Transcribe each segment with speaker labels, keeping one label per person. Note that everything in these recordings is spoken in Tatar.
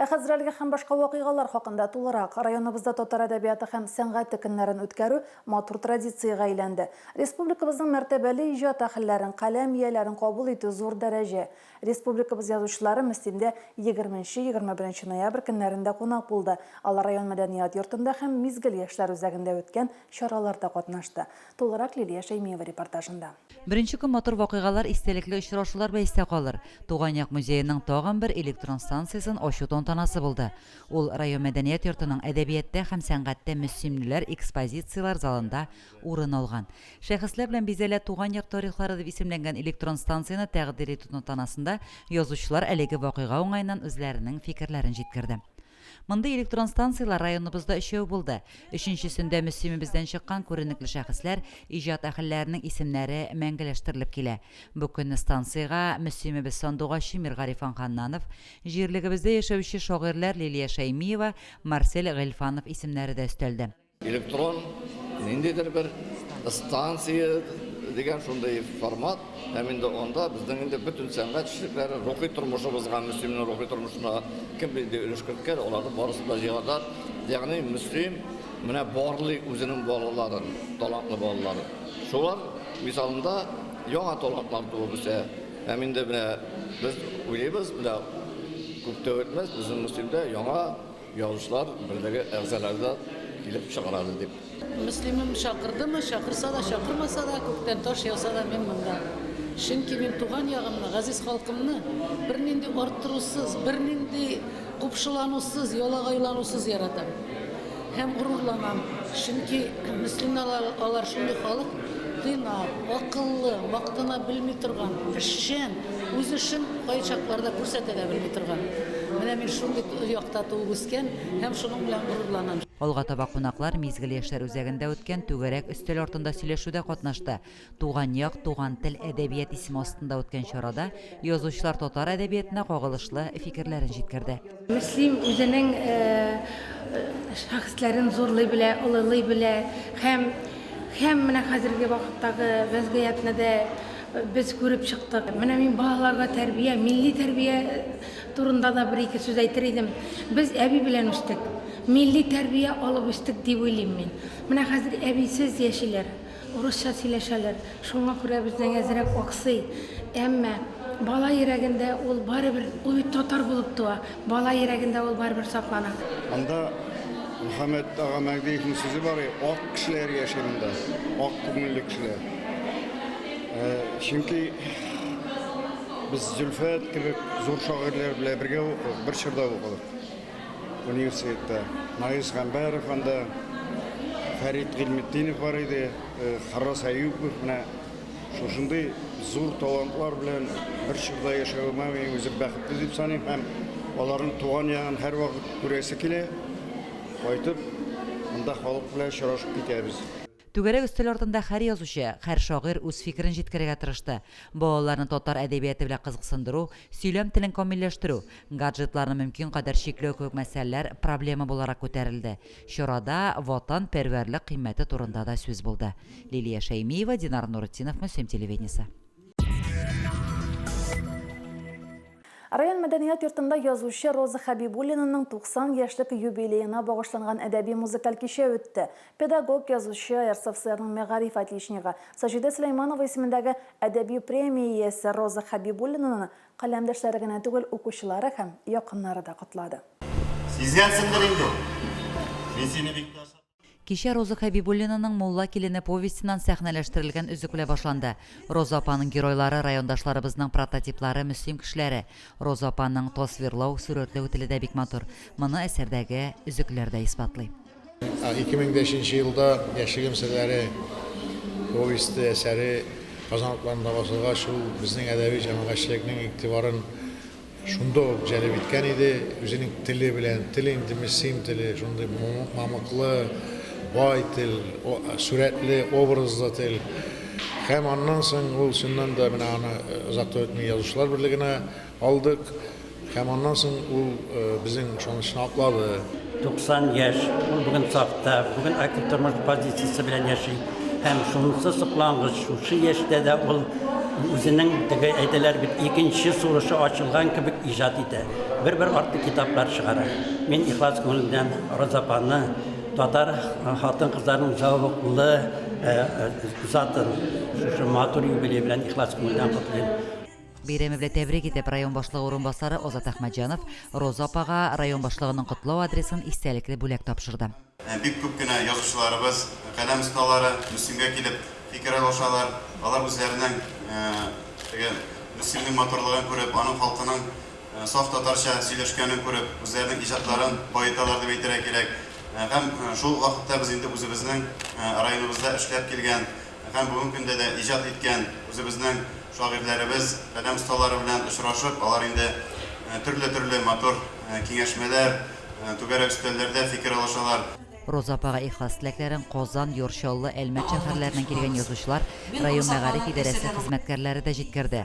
Speaker 1: Ә хәзер әлеге һәм башка вакыйгалар хакында тулырак. Районыбызда татар әдәбияты һәм сәнгате көннәрен үткәрү матур традициягә әйләнде. Республикабызның мәртәбәле иҗат әһелләрен, каләм ияләрен кабул итү зур дәрәҗә. Республикабыз язучылары Мөслимдә егерменче-егерме беренче ноябрь көннәрендә кунак булды. Алар район мәдәният йортында һәм Мизгел яшьләр үзәгендә үткән чараларда катнашты. Тулырак Лилия Шәймиева репортажында. Беренче көн матур
Speaker 2: вакыйгалар, истәлекле очрашулар белән истә калыр. Туган як музееның тагын бер электрон станциясен ачу тантанасы булды. Ул район мәдәният йортының Әдәбияттә һәм сәнгатьтә мөслимлеләр экспозицияләр залында урын алган. Шәхесләр белән бизәлә Туган як тарихлары дип исемләнгән электрон станцияне тәкъдир итү тантанасында язучылар әлеге вакыйга уңаеннан үзләренең фикерләрен җиткерде. Мондый электрон станцияләр районыбызда өчәү булды. Өченчесендә мөслимебездән чыккан күренекле шәхесләр, иҗат әһелләренең исемнәре мәңгеләштерелеп килә. Бу көнне станциягә мөслимебез сандугачы Миргарифан Ханнанов, җирлегебездә яшәүче шагыйрьләр Лилия Шәймиева, Марсель Гыйльфанов исемнәре дә өстәлде. Электрон
Speaker 3: ниндидер бер станция дигән шундый формат, һәм инде анда безнең инде бөтен сәнгать эшлекләре рухи тормышыбызга, Мөслимнең рухи тормышына кем нинди өлеш керткән, аларның барысын да җыйганнар. Ягъни Мөслим менә барлый үзенең балаларын, талантлы балаларын. Шулар мисалында яңа талантлар туып үсә. Һәм инде менә без уйлыйбыз, менә күп тә үтмәс, безнең Мөслимдә яңа Язучылар берлеге әгъзалары да килеп чыгарады дип. Мөслимем
Speaker 4: чакырдымы, чакырса да, чакырмаса да, күктән таш яуса да мин монда. Чөнки мин туган ягымны, газиз халкымны бернинди арттырусыз, бернинди купшыланусыз, ялагайланусыз яратам. Һәм горурланам. Чөнки мөслимнәр алар шундый халык, Тыйнак, акыллы, мактана белми торган, эшчән, үз эшен кайчакларда күрсәтә дә белми торган. Менә мин шундый якта туып үскән һәм шуның белән горурланам. Алга таба кунаклар
Speaker 2: Мизгел яшьләр үзәгендә үткән түгәрәк өстәл артында сөйләшүдә катнашты. Туган як, туган тел, әдәбият исеме астында үткән чарада язучылар татар әдәбиятына кагылышлы фикерләрен җиткерде. Мөслим
Speaker 5: үзенең шәхесләрен зурлый белә, олылый белә һәм һәм менә хәзерге вакыттагы вәзгыятьне дә без күреп чыктык. Менә мин балаларга тәрбия, милли тәрбия турында да бер-ике сүз әйтер идем. Без әби белән үстек. Милли тәрбия алып үстек дип уйлыйм мин. Менә хәзер әбисез яшиләр. Урысча сөйләшәләр, шуңа күрә безнең әзрәк аксый. Әмма бала йөрәгендә ул барыбер, ул бит татар булып туа, бала йөрәгендә ул барыбер саклана. Анда
Speaker 6: Мөхәммәт ага Мәгдиевнең сүзе бар и, ак кешеләр яши монда, ак күңелле кешеләр. Ә, чөнки без Зөлфәт кебек зур шагыйрьләр белән бергә укыдык, бер чорда укыдык. Университетта Наис Гамбәров, анда Фәрит Гыйльметдинов бар иде, Харрас Әюпов, менә шушындый зур талантлар белән бер чорда яшәвемә мин үзем бәхетле дип саныйм һәм аларның туган ягын һәрвакыт күрәсе килә. Кайтып, монда халык белән очрашып китәбез. Түгәрәк өстәл
Speaker 2: артында хәр язучы, хәр шагыйрь үз фикерен җиткерергә тырышты. Балаларны татар әдәбияты белән кызыксындыру, сөйләм телен камилләштерү, гаджетларны мөмкин кадәр чикләү кебек мәсьәләләр проблема буларак күтәрелде. Чарада ватанпәрвәрлек кыйммәте турында да сүз булды. Лилия Шәймиева, Динар Нуретдинов, Мөслим телевидениесе.
Speaker 1: Район мәдәният йортында язучы Роза Хәбибуллинаның 90 яшьлек юбилеена багышланган әдәби-музыкаль кичә үтте. Педагог, язучы, РСФСРның мәгариф отличнигы Саҗидә Сөләйманова исемендәге әдәби премия иясе Роза Хәбибуллинаны каләмдәшләре генә түгел, укучылары һәм якыннары да котлады. Сизгәнсеңдер
Speaker 7: инде, мин сине бик тә ошатам. Кичә Роза
Speaker 2: Хәбибуллинаның Мулла килене повестеннан сәхнәләштерелгән өзеклә башланды. Роза апаның геройлары райондашларыбызның прототиплары, мөслим кешеләре. Роза апаның тасвирлау, сурәтләү теле дә бик матур. Моны әсәрдәге өзекләр дә исбатлый. Ике мең
Speaker 8: бишенче елда Яшьлегем серләре повесте әсәре Казан утларында басылгач, ул безнең әдәби-җәмәгатьчелекнең игътибарын Шунда ук җәлеп иткән иде, үзенең теле белән, тел инде мессим теле, шундый мамыклы, бай тел, сурәтле, образлы тел. Һәм аннан соң ул чыннан да менә аны озак та үтми язучылар берлегенә алдык. Һәм аннан соң ул безнең ышанычны аклады. 90 яшь,
Speaker 9: ул бүген сафта, бүген актив тормыш позициясе белән яши. Һәм шунысы соклангыч, шушы яшьтә дә ул үзенең теге әйтәләр бит, икенче сулышы ачылган кебек иҗат итә. Бер-бер артлы китаплар чыгара. Мин ихлас күңел белән Роза апаны, татар хатын-кызларының зәвыклы затын шушы матур юбилей белән ихлас күңелдән котлыйм. Бәйрәме белән
Speaker 2: тәбрик итеп, район башлыгы урынбасары Азат Әхмәтҗанов Роза апага район башлыгының котлау адресын истәлекле бүләк тапшырды. Бик күп кенә
Speaker 7: язучыларыбыз, каләм осталары Мөслимгә килеп фикер алышалар. Алар үзләренең теге Мөслимнең матурлыгын күреп, аның халкының саф татарча сөйләшкәнен күреп, үзләренең иҗатларын баеталар дип әйтергә кирәк. Һәм шул ук вакытта без инде үзебезнең районыбызда эшләп килгән һәм бүген көндә дә иҗат иткән үзебезнең шагыйрьләребез, каләм осталары белән очрашып, алар инде төрле-төрле матур киңәшмәләр, түгәрәк өстәлләрдә фикер алышалар. Роза апага
Speaker 2: ихлас теләкләрен Казан, Йор, Чаллы, Әлмәт шәһәрләреннән килгән язучылар, район мәгариф идарәсе хезмәткәрләре дә җиткерде.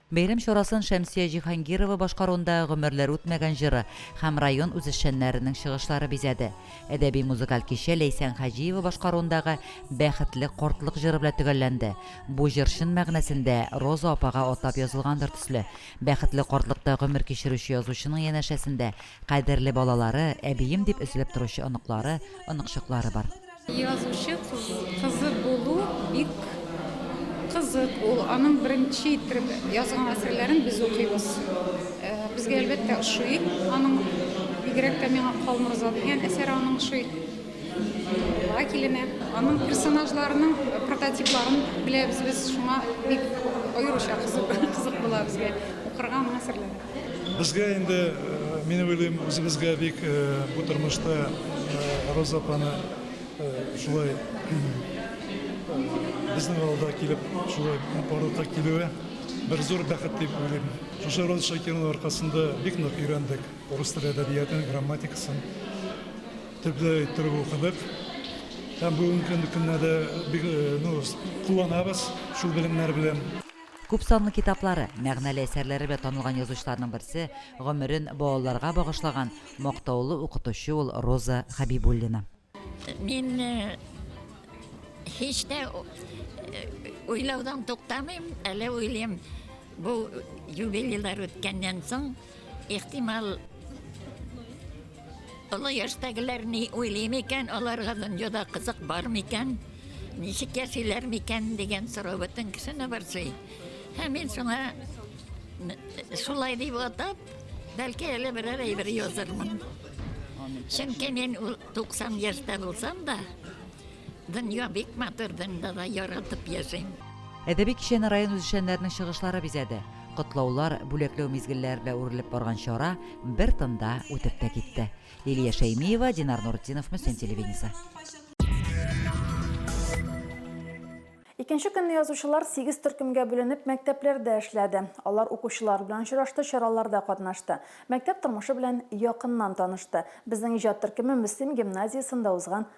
Speaker 2: Бәйрәм чарасын Шәмсия Җиһангирова башкаруында Гомерләр үтмәгән җыры һәм район үзешчәннәренең чыгышлары бизәде. Әдәби-музыкаль кичә Ләйсән Хаҗиева башкаруындагы Бәхетле картлык җыры белән төгәлләнде. Бу җыр чын мәгънәсендә Роза апага атап язылгандыр төсле. Бәхетле картлыкта гомер кичерүче язучының янәшәсендә кадерле балалары, әбием дип өзелеп торучы оныклары, оныкчыклары бар. Язучы
Speaker 10: кызы булу бик кызык, ул аның беренче иттереп язган әсәрләрен без укыйбыз. Безгә әлбәттә ошый, аның бигрәк тә миңа Калмырза дигән әсәре аның ошый. Ла килене, аның персонажларының прототипларын беләбез без, шуңа бик аеруча кызык була безгә укырга аның әсәрләре. Безгә инде,
Speaker 11: мин уйлыйм, үзебезгә бик бу тормышта Роза апаны шулай безнең авылда килеп, шулай барлыкка килүе бер зур бәхет дип уйлыйм. Шушы Роза Шакированың аркасында бик нык өйрәндек рус теле әдәбиятын, грамматикасын, төпле иттереп укыдык. Һәм бүгенге көндә дә бик, ну, кулланабыз шул белемнәр белән. Күп санлы
Speaker 2: китаплары, мәгънәле әсәрләре белән танылган язучыларның берсе, гомерен балаларга багышлаган мактаулы укытучы ул Роза Хәбибуллина. Мин
Speaker 12: һич тә уйлаудан туктамыйм, әле уйлыйм, бу юбилейлар үткәннән соң, Ихтимал, олы яшьтәгеләр ни уйлый микән, аларга дөньяда кызык бар микән, ничек яшиләр микән дигән сорау бөтен кешене борчый. Һәм мин шуңа шулай дип атап, бәлки әле берәр әйбер язырмын. Чөнки мин 90 яшьтә булсам да, Дөнья бик матур, дөньяда да яратып яшим. Әдәби кичәне
Speaker 2: район үзешчәннәренең чыгышлары бизәде. Котлаулар, бүләкләү мизгелләре белән үрелеп барган чара бер тында үтеп тә китте. Лилия Шәймиева, Динар Нуретдинов, Мөслим телевидениесе.
Speaker 1: Икенче көнне язучылар сигез төркемгә бүленеп мәктәпләрдә эшләде. Алар укучылар белән очрашты, чараларда катнашты. Мәктәп тормышы белән якыннан танышты. Безнең иҗат төркеме Мөслим гимназиясендә узган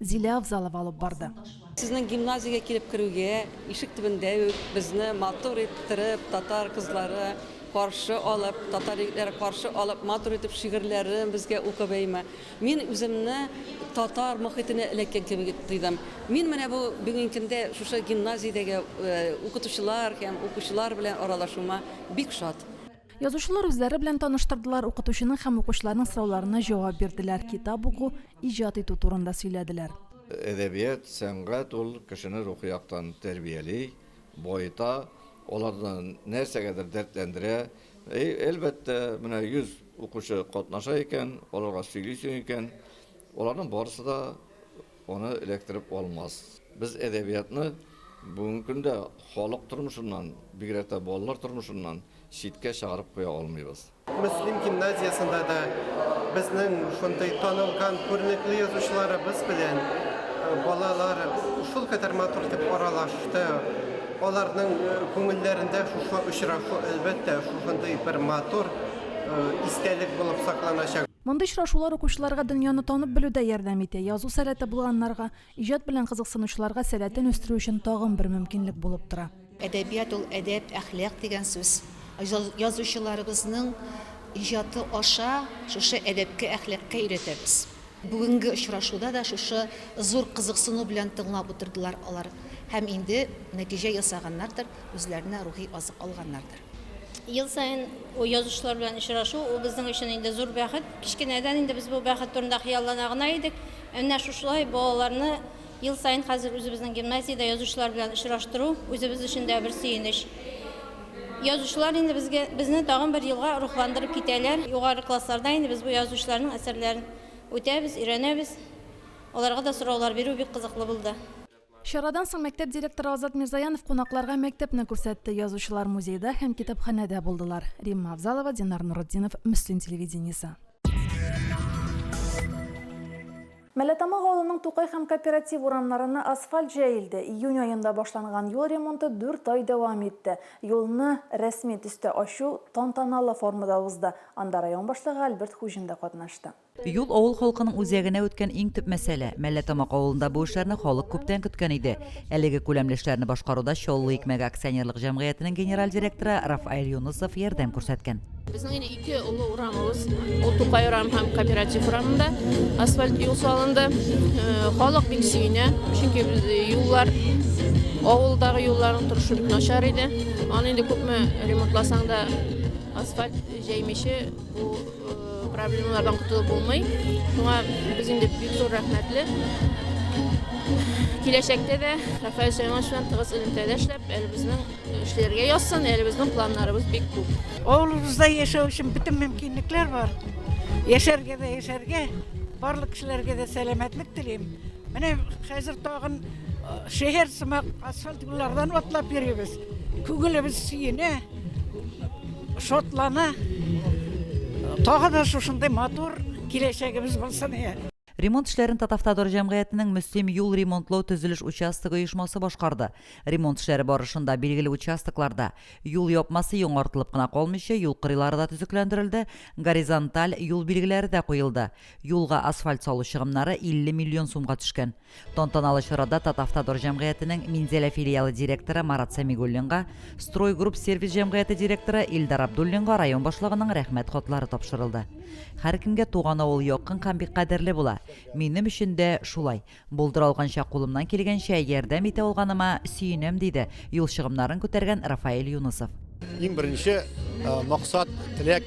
Speaker 1: Зилә Авзалова алып барды. Сезнең гимназиягә
Speaker 13: килеп керүгә, ишек төбендә үк безне матур иттереп, татар кызлары каршы алып, татар егетләре каршы алып, матур итеп шигырьләрен безгә укып әйме. Мин үземне татар мохитенә эләккән кебек тойдым. Мин менә бу бүгенге көндә шушы гимназиядәге укытучылар һәм укучылар белән аралашуыма бик шат. Язучылар
Speaker 1: үзләре белән таныштырдылар, укытучының һәм укучыларның сорауларына җавап бирделәр, китап уку, иҗат итү турында сөйләделәр. Әдәбият,
Speaker 3: сәнгать ул кешене рухи яктан тәрбияли, баета, аларны нәрсәгәдер дәртләндерә. Әлбәттә, менә 100 укучы катнаша икән, аларга сөйлисең икән, аларның барысы да аны эләктереп алмас. Без әдәбиятны бүгенге көндә халык тормышыннан, бигрәк тә балалар тормышыннан читкә чыгарып куя алмыйбыз. Мөслим
Speaker 14: гимназиясендә дә безнең шундый танылган күренекле язучыларыбыз белән балалар шул кадәр матур итеп аралашты. Аларның күңелләрендә шушы очрашу, әлбәттә, шушындый бер матур истәлек булып сакланачак. Мондый очрашулар
Speaker 1: укучыларга дөньяны танып белүдә ярдәм итә, язу сәләте булганнарга Иҗат белән кызыксынучыларга сәләтен үстерү өчен тагын бер мөмкинлек булып тора. Әдәбият ул әдәп,
Speaker 15: әхлак дигән сүз. Язучыларыбызның иҗаты аша шушы әдәпкә, әхлакка өйрәтәбез. Бүгенге очрашуда да шушы зур кызыксыну белән тыңлап утырдылар алар һәм инде нәтиҗә ясаганнардыр, үзләренә рухи азык алганнардыр. Ел саен
Speaker 16: язучылар белән очрашу, ул безнең өчен инде зур бәхет. Кечкенәдән инде без бу бәхет турында хыяллана гына идек. Әнә шушылай балаларны ел саен хәзер үзебезнең гимназиядә язучылар белән очраштыру, үзебез өчен дә бер сөенеч. Язучылар инде безгә, безне тагын бер елга рухландырып китәләр. Югары классларда инде без бу язучыларның әсәрләрен үтәбез, өйрәнәбез. Аларга да сораулар бирү бик кызыклы булды. Чарадан соң
Speaker 1: мәктәп директоры Азат Мирзаянов кунакларга мәктәпне күрсәтте. Язучылар музейда һәм китапханәдә булдылар. Римма Авзалова, Динар Нуретдинов, Мөслим телевидениесе. Мәләтамак авылының Тукай һәм Кооператив урамнарына асфальт җәелде. Июнь аенда башланган юл ремонты дүрт ай дәвам итте. Юлны рәсми төстә ачу тантаналы формада узды. Анда район башлыгы Альберт Хуҗин да катнашты. Юл авыл
Speaker 2: халкының үзәгенә үткән иң төп мәсьәлә. Мәлләтамак авылында бу эшләрне халык күптән көткән иде. Әлеге күләмле эшләрне башкаруда Чаллы икмәге акционерлык җәмгыятенең генераль директоры Рафаэль Юнысов ярдәм күрсәткән. Безнең инде ике
Speaker 17: олы урамыбыз, ул Тукай урамы һәм Кооператив урамында асфальт юл салынды. Халык бик сөенә, чөнки юллар, авылдагы юлларның торышы бик начар иде. Аны инде күпме ремонтласаң да асфальт җәймичә бу Проблемалардан котылып булмый. Шуңа без инде бик зур рәхмәтле. Киләчәктә дә Рафаэль Сәйманович белән тыгыз элемтәдә эшләп, әле безнең эшләргә язсын, әле безнең планнарыбыз бик күп. Авылыбызда яшәү
Speaker 18: өчен бөтен мөмкинлекләр бар. Яшәргә дә яшәргә, барлык кешеләргә дә сәламәтлек телим. Менә хәзер тагын шәһәр сымак асфальт юллардан атлап йөрибез. Күңелебез сөенә. Шатлана. Тагы да шушындый матур киләчәгебез булсын. Ремонт эшләрен
Speaker 2: Татавтодор җәмгыятенең Мөслим юл ремонтлау төзелеш участогы оешмасы башкарды. Ремонт эшләре барышында билгеле участокларда юл япмасы яңартылып кына калмыйча, юл кырыйлары да төзекләндерелде, горизонталь юл билгеләре дә куелды. Юлга асфальт салу чыгымнары 50 миллион сумга төшкән. Тантаналы чарада Татавтодор җәмгыятенең Минзәлә филиалы директоры Марат Сәмигуллинга, Стройгрупп сервис җәмгыяте директоры Илдар Абдуллинга район башлыгының Рәхмәт хатлары тапшырылды. Һәркемгә туган авыл якын һәм бик кадерле була. Минем өчен дә шулай. Булдыра алганча, кулымнан килгәнчә ярдәм итә алганыма сөенәм, диде юл чыгымнарын күтәргән Рафаэль Юнысов. Иң беренче
Speaker 19: максат, теләк,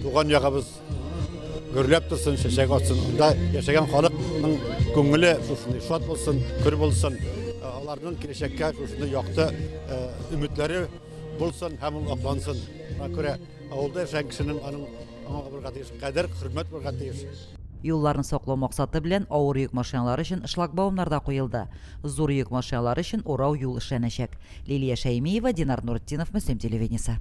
Speaker 19: туган ягыбыз. гөрләп торсын, чәчәк атсын. Монда яшәгән халыкның күңеле шушындай шат булсын, көр булсын. Аларның киләчәккә шушындай якты өметләре булсын һәм ул аклансын. Шуңа күрә авылда яшәгән кешенең аның аңа булырга тиеш кадер, хөрмәт булырга тиеш. Юлларны саклау
Speaker 2: максаты белән авыр йөк машиналары өчен шлагбаумнар да куелды. Зур йөк машиналары өчен урау юл эшләнәчәк. Лилия Шәймиева, Динар Нуретдинов, Мөслим телевидениесе.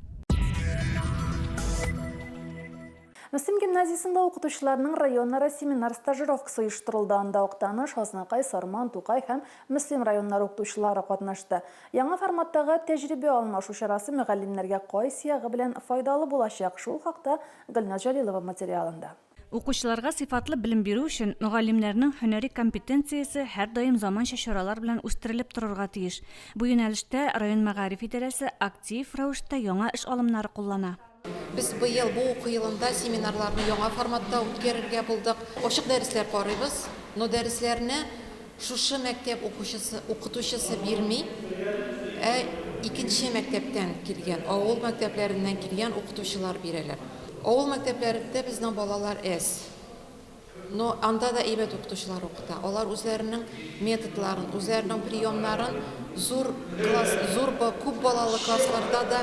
Speaker 1: Мөслим гимназиясендә укытучыларның районара семинар стажировкасы оештырылды. Анда Актаныш, Азнакай, Сарман, Тукай һәм Мөслим районнары укытучылары катнашты. Яңа форматтагы тәҗрибә алмашу чарасы мөгаллимнәргә кайсы ягы белән файдалы булачак, шул хакта Гөлназ Җәлилова материалында.
Speaker 20: Укучыларга сыйфатлы белем бирү өчен мөгаллимнәрнең һөнәри компетенциясе һәрдаим заманча чаралар белән үстерелеп торырга тиеш. Бу юнәлештә район мәгариф идарәсе актив рәвештә яңа эш алымнары куллана. Без быел
Speaker 21: бу уку елында семинарларны яңа форматта үткәрергә булдык. Ачык дәресләр карыйбыз, но дәресләрне шушы мәктәп укучысы, укытучысы бирми, ә икенче мәктәптән килгән, авыл мәктәпләреннән килгән укытучылар бирәләр. Авыл мәктәпләрендә безнең балалар әз. Но анда да әйбәт укытучылар укыта, алар үзләренең методларын, үзләренең приемнарын зур класс, зур ба, күп балалы классларда да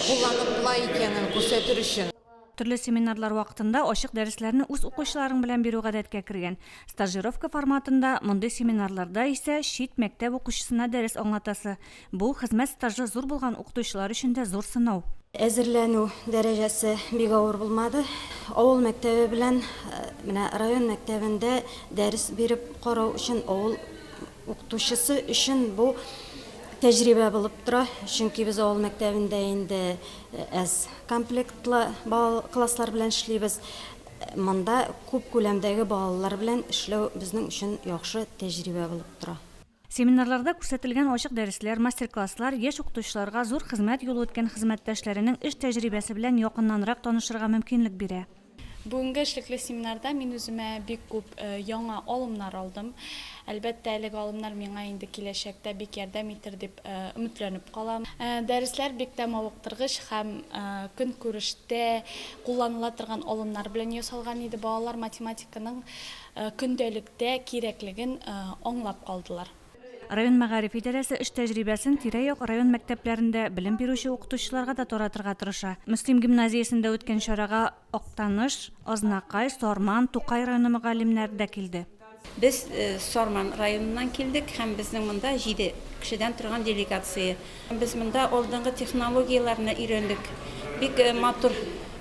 Speaker 21: кулланып була икәнен күрсәтер өчен. Төрле семинарлар
Speaker 20: вакытында ачык дәресләрне үз укучыларың белән бирү гадәткә кергән. Стажировка форматында, мондый семинарларда исә чит мәктәп укучысына дәрес аңлатасы, Бу, хезмәт стажы зур булган укытучылар өчен дә зур сынау. Әзерләнү
Speaker 22: дәрәҗәсе бик авыр булмады. Авыл мәктәбе белән менә район мәктәбендә дәрес биреп карау өчен авыл укытучысы өчен бу тәҗрибә булып тора. Чөнки без авыл мәктәбендә инде әз комплектлы класслар белән эшлибез. Монда күп күләмдәге балалар белән эшләү безнең өчен яхшы тәҗрибә булып тора. Семинарларда
Speaker 20: күрсәтелгән ачык дәресләр, мастер-класслар яшь укытучыларга зур хезмәт юлы үткән хезмәттәшләренең эш тәҗрибәсе белән якыннанрак танышырга мөмкинлек бирә. Бүгенге эшлекле
Speaker 23: семинарда мин үземә бик күп яңа алымнар алдым. Әлбәттә, әлеге алымнар миңа инде киләчәктә бик ярдәм итер дип өметләнеп калам. Дәресләр бик тә мавыктыргыч һәм көнкүрештә кулланыла торган алымнар белән ясалган иде. Балалар математиканың көндәлектә кирәклеген аңлап калдылар. Район мәгариф
Speaker 20: идарәсе эш тәҗрибәсен тирә-як район мәктәпләрендә белем бирүче укытучыларга да таратырга тырыша. Мөслим гимназиясендә үткән чарага Актаныш, Азнакай, Сарман, Тукай районы мөгаллимнәре дә килде. Без
Speaker 24: Сарман районыннан килдек һәм безнең монда җиде кешедән торган делегация Без монда алдынгы технологияләрне өйрәндек. Бик матур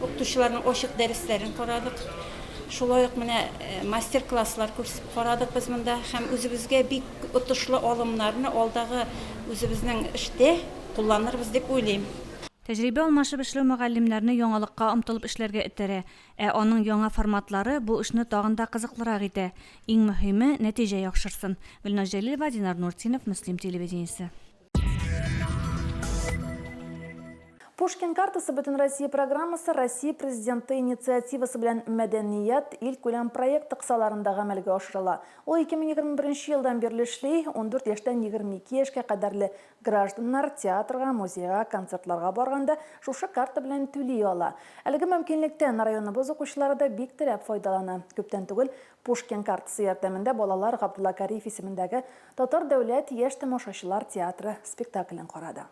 Speaker 24: укытучыларның ачык дәресләрен карадык. Шулай ук менә мастер-класслар күрсеп карадык без монда һәм үзебезгә бик отышлы алымнарны алдагы үзебезнең эштә кулланырбыз дип уйлыйм. Тәҗрибә алмашып
Speaker 20: эшләү мөгаллимнәрне яңалыкка омтылып эшләргә этәрә, ә аның яңа форматлары бу эшне тагын да кызыклырак итә. Иң мөһиме, нәтиҗә яхшырсын. Гөлназ Җәлилова, Динар Нуртдинов, Мөслим телевидениесе.
Speaker 1: Пушкин картасы бөтен Россия программасы Россия президенты инициативасы белән мәдәният ил күләм проекты кысаларында гамәлгә ашырыла. Ул 2021 елдан бирле эшли, 14 яшьтән 22 яшькә кадәрле гражданнар театрга, музейга, концертларга барганда шушы карта белән түли ала. Әлеге мөмкинлектән районыбыз укучылары да бик теләп файдалана. Күптән түгел Пушкин картасы ярдәмендә балалар Габдулла Кариев исемендәге Татар дәүләт яшь тамашачылар театры спектаклен карады.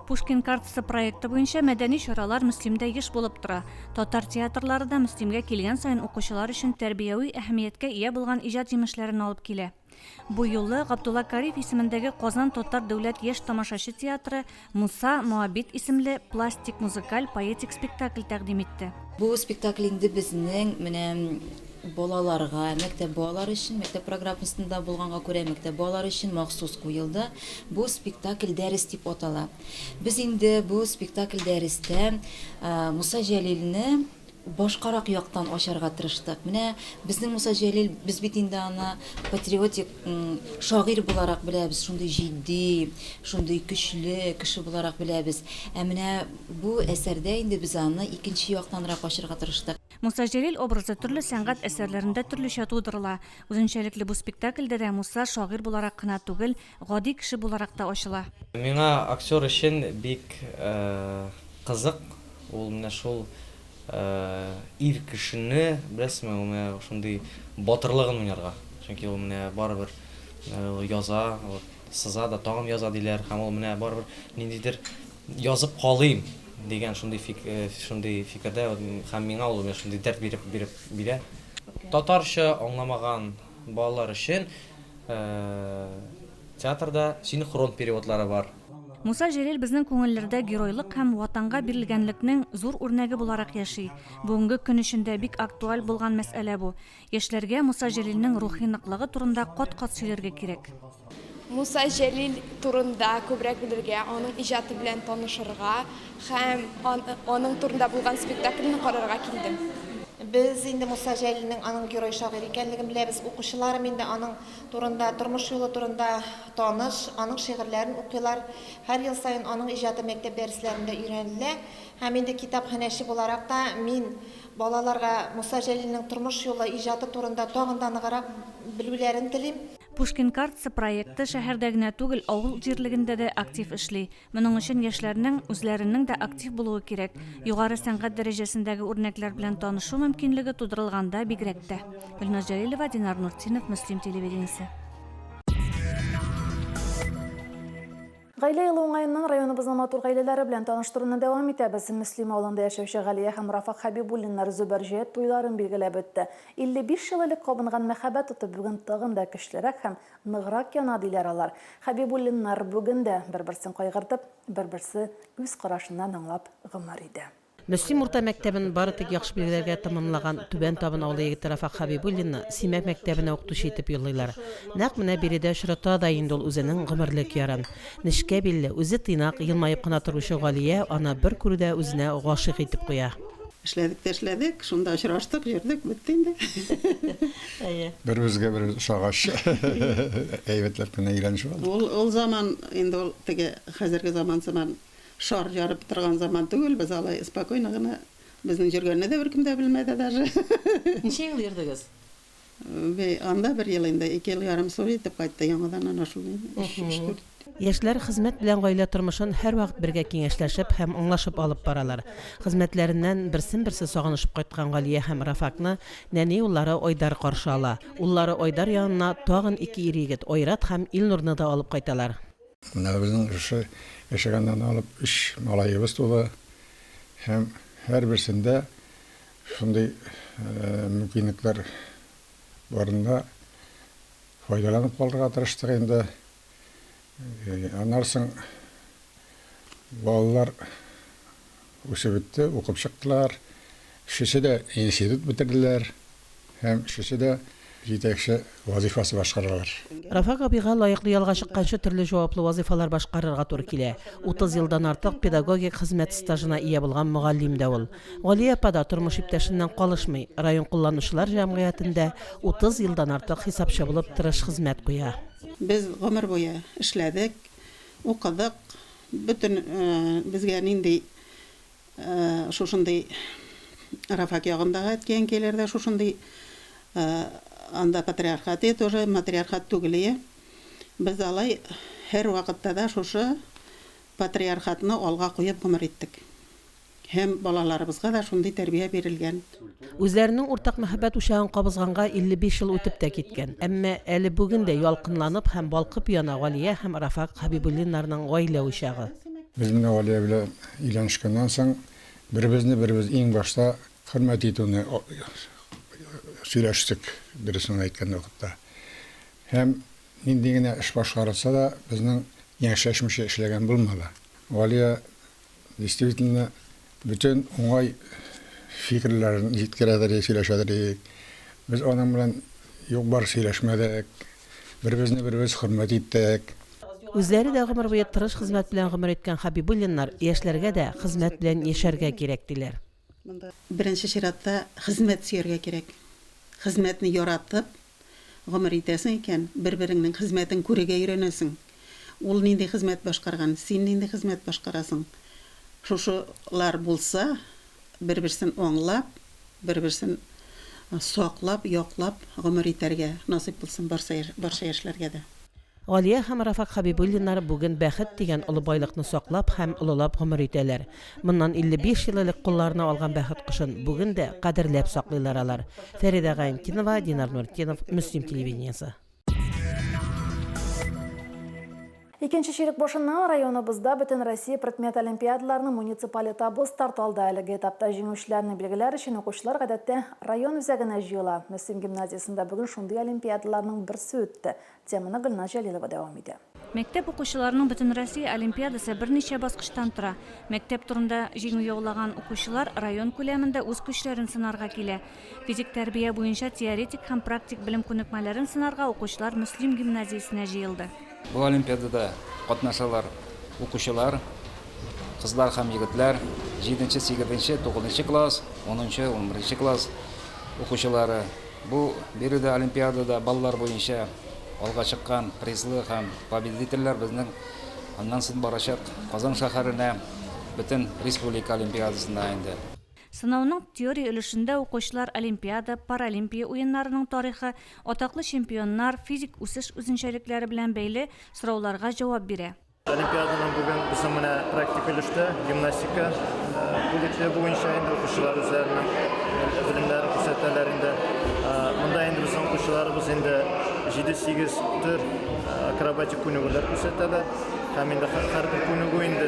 Speaker 1: Пушкин
Speaker 20: картасы проекты буенча мәдәни чаралар Мөслимдә еш булып тора. Татар театрлары да Мөслимгә килгән саен укучылар өчен тәрбияви әһәмияткә ия булган иҗат җимешләрен алып килә. Бу юлы Габдулла Кариев исемендәге Казан татар дәүләт яшь тамашачы театры Муса Моабит исемле пластик-музыкаль поэтик спектакль тәкъдим итте. Бу спектакль инде
Speaker 25: безнең менә балаларга, мәктәп балалары өчен, мәктәп программасында булганга күрә, мәктәп балалары өчен махсус куелды. Бу спектакль Дәрес дип атала. Без инде бу спектакль Дәрестә Муса Җәлилне, башкарак яктан ачарга тырыштык. Менә безнең Муса Җәлил, без бит инде аны патриотик шагыйрь буларак беләбез, шундый җитди, шундый көчле кеше буларак беләбез. Ә менә бу әсәрдә инде без аны икенче яктанрак ачырга тырыштык. Муса Җәлил образы
Speaker 20: төрле сәнгать әсәрләрендә төрлечә тудырыла. Үзенчәлекле бу спектакльдә дә Муса шагыйрь буларак кына түгел, Гади кеше буларак та ачыла. Миңа актер
Speaker 26: өчен бик кызык ул менә шул ир кешене, беләсезме, ул менә шундый батырлыгын уйнарга. Чөнки ул менә барыбер яза, вот сыза да тагын яза диләр һәм ул менә барыбер ниндидер язып калыйм дигән шундый шундый фикердә һәм миңа ул менә шундый дәрт биреп биреп бирә. Татарча аңламаган. Балалар өчен театрда синхрон переводлары бар. Муса Җәлил
Speaker 20: безнең күңелләрдә геройлык һәм Ватанга бирелгәнлекнең зур үрнәге буларак яши. Бүгенге көн өчен дә бик актуаль булган мәсьәлә бу. Яшьләргә Муса Җәлилнең рухи ныклыгы турында кат-кат сөйләргә кирәк. Муса
Speaker 27: Җәлил турында күбрәк белергә, аның иҗаты белән танышырга һәм аның турында булган спектакльне карарга килдем. Без
Speaker 4: инде Муса Җәлилнең аның герой-шагыйрь икәнлеген беләбез, укучыларым инде аның турында, тормыш юлы турында таныш, аның шигырьләрен укыйлар. Һәр ел саен аның иҗаты мәктәп дәресләрендә өйрәнелә. Һәм инде китапханәче буларак та мин балаларга Муса Җәлилнең тормыш юлы, иҗаты турында тагын да ныграк белүләрен телим. Пушкин картасы
Speaker 20: проекты шәһәрдә генә түгел, авыл җирлегендә дә актив эшли. Моның өчен яшьләрнең үзләренең дә актив булуы кирәк. Югары сәнгать дәрәҗәсендәге үрнәкләр белән танышу мөмкинлеге тудырылганда бигрәк тә. Гөлназ Җәлилова, Динар Нуртдинов, Мөслим телевидениесе.
Speaker 1: Гаилә елы уңаеннан районыбызның матур гаиләләре белән таныштыруны дәвам итәбез. Мөслим авылында яшәүче Галия һәм Рафак Хәбибуллиннар Зөбәрҗәет туйларын билгеләп үтте. 55 ел элек кабынган мәхәббәт уты бүген тагын да көчлерәк һәм ныграк яна, диләр алар. Хәбибуллиннар бүген дә, бер-берсен кайгыртып, бер-берсе күз карашыннан аңлап гомер итә. Мөслим урта мәктәбен
Speaker 5: бары тик яхшы билгеләргә тәмамлаган Түбән Табын авылы егете Рафак Хәбибуллинны Симәк мәктәбенә укытучы итеп юллыйлар. Нәкъ менә биредә очрата да инде ул үзенең гомерлек ярын. Нечкә билле, үзе тыйнак, елмаеп кына торучы Галия аны бер күрүдә үзенә гашыйк итеп куя. Эшләдек тә эшләдек,
Speaker 6: шунда очраштык, йөрдек, бетте инде. Беребезгә
Speaker 19: беребез ошагач, әйбәтләп кенә өйләнешеп алдык. Ул заман инде
Speaker 6: ул теге хәзерге заман сыман Шар ярып торган заман түгел, без алай спокойно гына, безнең җөргәнне дә беркем дә белмәде даже. Ничә ел
Speaker 5: йөрдегез? Бе,
Speaker 6: анда бер ел инде, ике ел ярым су итеп кайтты, яңадан ана шул ин, өч, өч-дүрт.
Speaker 5: Яшьләр хезмәт белән гаилә тормышын һәрвакыт бергә киңәшләшеп һәм аңлашып алып баралар. Хезмәтләреннән берсен-берсе сагынышып кайткан Галия һәм Рафакны нәни уллары Айдар каршы ала. Уллары Айдар янына тагын ике ир-егет, Айрат һәм Илнурны да алып кайталар. Менә безнең
Speaker 19: шушы яшәгәннән алып өч малаебыз туды һәм һәрберсендә шундый мөмкинлекләр барында файдаланып калырга тырыштык инде. Аннан соң балалар Үсеп үтте, укып чыктылар. Өчесе дә институт бетерделәр һәм өчесе дә җитәкче вазыйфасы башкаралар. Рафак абыйга
Speaker 5: лаеклы ялга чыкканчы төрле җаваплы вазыйфалар башкарырга туры килә. Утыз елдан артык педагогик хезмәт стажына ия булган мөгаллим дә ул. Галия апа да тормыш иптәшеннән калышмый, район кулланучылар җәмгыятендә утыз елдан артык хисапчы булып тырыш хезмәт куя. Без гомер
Speaker 6: буе эшләдек, укыдык, Бөтен безгә нинди шушындый Рафак ягындагы әткәй-әнкәйләр дә шушындый анда патриархатые тоже матриархат түгелые. Без алай һәрвакытта да шушы патриархатны алга куеп гомер иттек. Һәм балаларыбызга да шундый тәрбия бирелгән. Үзләренең
Speaker 5: уртак мәхәббәт учагын кабызганга 55 ел үтеп тә киткән, әмма әле бүген дә ялкынланып һәм балкып яна Галия һәм Рафак Хәбибуллиннарның гаилә учагы. Без менә Галия
Speaker 19: белән өйләнешкәннән соң беребезне-беребез иң башта хөрмәт итүне сөйләштек, дөресен генә әйткән вакытта. Һәм нинди генә эш башкарылса да, безнең яньчәчмичә эшләгән булмады. Галия Действительно, бөтен уңай фикерләрен җиткерәдер идек, сөйләшәдер идек. Без аның белән юк-бар сөйләшмәдек. Беребезне-беребез хөрмәт иттек. Үзләре дә
Speaker 5: гомер буе тырыш хезмәт белән гомер иткән Хәбибуллиннар яшьләргә дә хезмәт белән яшәргә кирәк, диләр. Монда беренче
Speaker 6: чиратта хезмәт сөяргә кирәк. Хезмәтне яратып гомер итәсең икән, бер-береңнең хезмәтен күрергә өйрәнәсең. Ул нинди хезмәт башкарган, син нинди хезмәт башкарасың. Шушылар булса, бер-берсен аңлап, бер-берсен саклап, яклап гомер итәргә насыйп булсын барса, барча яшьләргә дә. Галия һәм
Speaker 5: Рафак Хәбибуллиннар бүген бәхет дигән олы байлыкны саклап һәм олылап гомер итәләр. Моннан 55 ел элек кулларына алган бәхет кошын бүген дә кадерләп саклыйлар алар. Фәридә Гайнтинова, Динар Нуртдинов, Мөслим телевидениесе.
Speaker 1: Икенче чирек башыннан районыбызда Бөтенроссия предмет олимпиадаларының муниципаль этабы старт алды. Әлеге этапта җиңүчеләрне билгеләр өчен укучылар гадәттә район үзәгенә җыела. Мөслим гимназиясендә бүген шундый олимпиадаларның берсе үтте. Теманы Гөлназ Җәлилова дәвам итә. Мәктәп укучыларының
Speaker 20: бөтенроссия олимпиадасы берничә баскычтан тора. Мәктәп турында җиңү яулаган укучылар район күләмендә үз көчләрен сынарга килә. Физик тәрбия буенча теоретик һәм практик белем күнекмәләрен сынарга укучылар Мөслим гимназиясенә җыелды. Бу олимпиадада
Speaker 7: катнашалар укучылар, кызлар һәм егетләр, җиденче, сигезенче, тугызынчы класс, унынчы, унберенче класс укучылары. Бу биредә олимпиадада баллар буенча алга чыккан призлы һәм победительләр безнең аннан сон барачак Казан шәһәренә бөтен республика олимпиадасына инде. Сынауның
Speaker 20: теория өлешендә укучылар олимпиада, паралимпия уеннарының тарихы, атаклы чемпионнар, физик үсеш үзенчәлекләре белән бәйле сорауларга җавап бирә. Олимпиаданың бүген
Speaker 3: безнең менә практик өлештә гимнастика бүлекле буенча инде укучылар үзләренең белемнәрен күрсәтәләр инде. Монда инде безнең укучыларыбыз инде 7-8 төр акробатик күнегүләр күрсәтәләр. Һәм инде һәрбер күнегү инде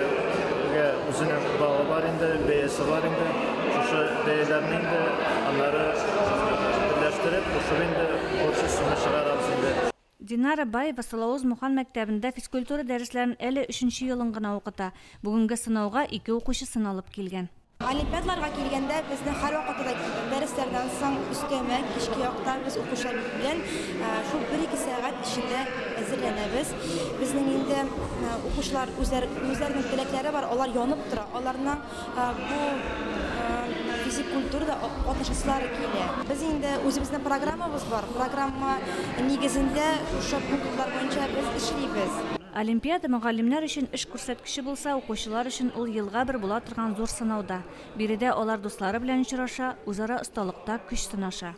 Speaker 3: үзенең балы бар инде, бәясе бар инде. Шушы бәяләрне инде аннары берләштереп, кушып инде общий сумма чыгарабыз инде. Динара Баева
Speaker 20: Салавоз Мухан мәктәбендә физкультура дәресләрен әле өченче елын гына укыта. Бүгенге сынауга ике укучы сыналып килгән. Олимпиадаларга
Speaker 22: килгәндә, безне һәрвакытта да килдек. Дәресләрдән соң, өстәмә, кичке якта без укучыларыбыз белән шул бер-ике сәгать эчендә әзерләнәбез. Безнең инде укучылар үзләр, үзләренең теләкләре бар, алар янып тора. Аларның. Бу физик культурада катнашасылары килә. Без инде үзебезнең программабыз бар. Программа нигезендә шушы пунктлар буенча без эшлибез. Олимпиада
Speaker 20: мөгаллимнәр өчен эш күрсәткече булса, укучылар өчен ул елга бер була торган зур сынау да. Биредә алар дуслары белән очраша, үзара осталыкта көч сынаша.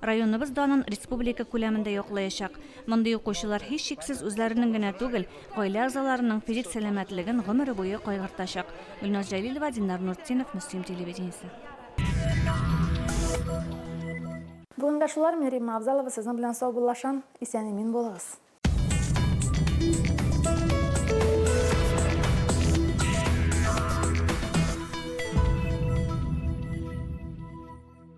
Speaker 20: районыбыз данын республика күләмендә яклаячак. Мондый укучылар һичшиксез үзләренең генә түгел, гаилә әгъзаларының физик сәламәтлеген гомере буе кайгыртачак. Гөлназ Җәлилова, Динар Нуртдинов, Мөслим телевидениесе.
Speaker 1: Бүгенгә шулар, мин Римма Авзалова сезнең белән саубуллашам, исән-имин булыгыз.